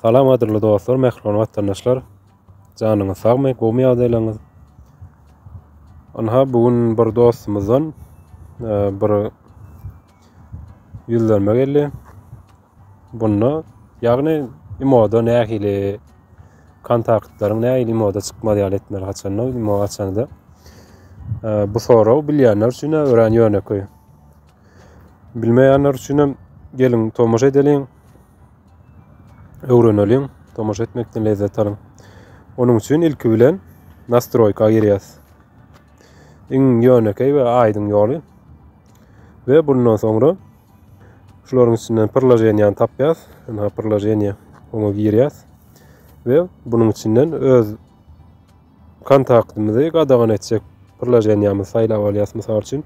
Salam gadyrly dostlar, mähriban watandaşlar. Janyňyz sagmy, gowymy ýagdaýlaryňyz? Anha bu gün bir dostumyzdan e, bir ýüzlenme geldi. Bunda, ýagny imoda nähili kontaktlaryň nähili imoda çykmaz ýaly etmeli haçanda imo açanda. Bu sorag bilýänler üçin örän ýönekeý. Bilmeýänler üçin hem geliň tomaşa edeliň. Öwreneliň, tomaşa etmekden lezzet alyň. Onuň üçin ilki bilen nastroýka girýäs. Iň ýönekeý we aýdyň ýoly. Ve bundan soňra Şularyň içinden pırlajeniýany tapýas. Ynha pırlajeniýa oňa girýäs. We bunuň içinden öz kontaktymyzy gadagan etjek pırlajeniýamyzy saýlap alýas. Mysal üçin,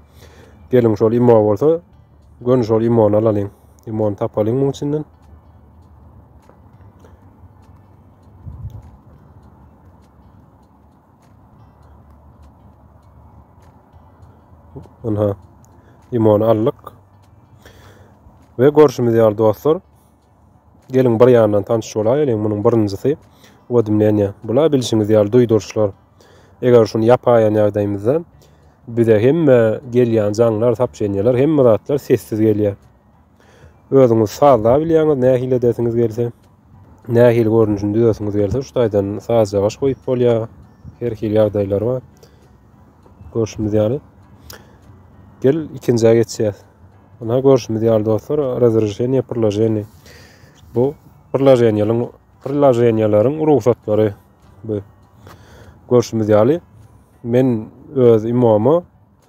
geliň şol imo bolsa, gönü şol imony alalyň. Imony tapalyň muň içinden. Ynha, limony aldyk. Ve görşümiz ýaly dostlar, geliň bir ýandan tanşyş bolaýylyň, munuň birinjisi wodmleniýa. Bula bilşiňiz ýaly duýduryşlar. Eger şuny ýapaýan ýagdaýymyzda bize hemme gelýän jaňlar, sapşenýalar, hemme zatlar sessiz gelýär. Özüňiz sazla bilýäňiz, nähili edesiňiz gelse, nähili görnüşini düzesiňiz gelse, şu taýdan sazja gaş goýup bolýar. Her hili ýagdaýlar bar. Görşümiz ýaly. Gel ikinjä geçýäs. Buna görşümiz ýaly dostlar, razrešeniýe priloženiýe. Bu priloženiýalaryň priloženiýalaryň rugsatlary bu. Görşümiz ýaly, men öz imama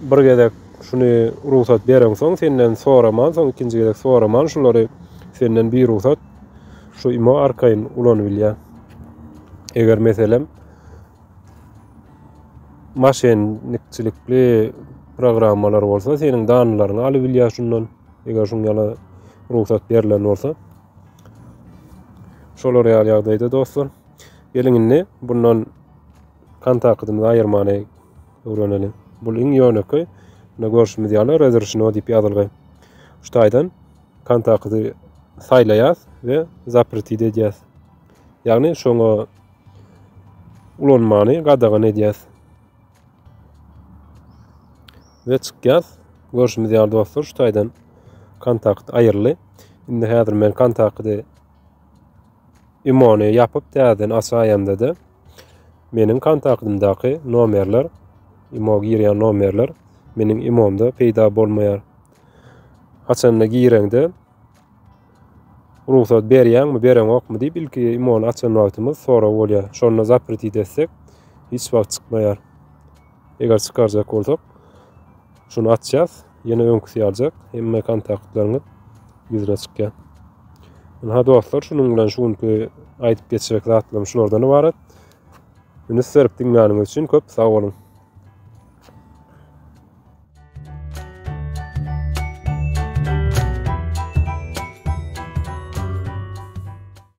bir gezek şuny rugsat bereňsoň senden soraman soň ikinji gezek soraman şulary senden bir rugsat şu imo arkaýyn ulanybilýär. Eger meselem maşennikçilikli programmalar bolsa seniň danlaryňy alybilýär şundan eger şuň ýala rugsat berlen bolsa. Şolar ýaly ýagdaýda dostlar. Geliň indi bundan Kan takydymyzy aýyrmany öwreneli. Bul iň ýönekeý. Munda görşümiz ýaly Razrşino diýip ýazylgy. Şu taýdan kan takydy saýlaýas we zapretit edýäs. Ýagny şoňa ulanmany gadagan edýäs. Ve çykýas. Görşümiz ýaly dostlar şu taýdan kan takydy aýyryldy. Indi häzir men kan takydy Imony ýapyp täzeden açaýanda-da meniň kontaktymdaky nomerler, imo girýän nomerler meniň imomda peýda bolmaýar. Açanda gireňde rugsat berýäňmi, bereňokmy diýip ilki imony açan wagtymyz sorag bolýar. Şonda zapretить etsek hiç wagt çykmaýar. Eger çykarjak bolsak, şuny açýas, ýene öňküsi ýaljak, hemme kontaktlaryňyz ýüzüne çykýar. Ynha dostlar, şunuň bilen şu günki aýdyp geçjek zatlarym şulardan ybarat. Ünis berip diňläniňiz üçin köp sag boluň.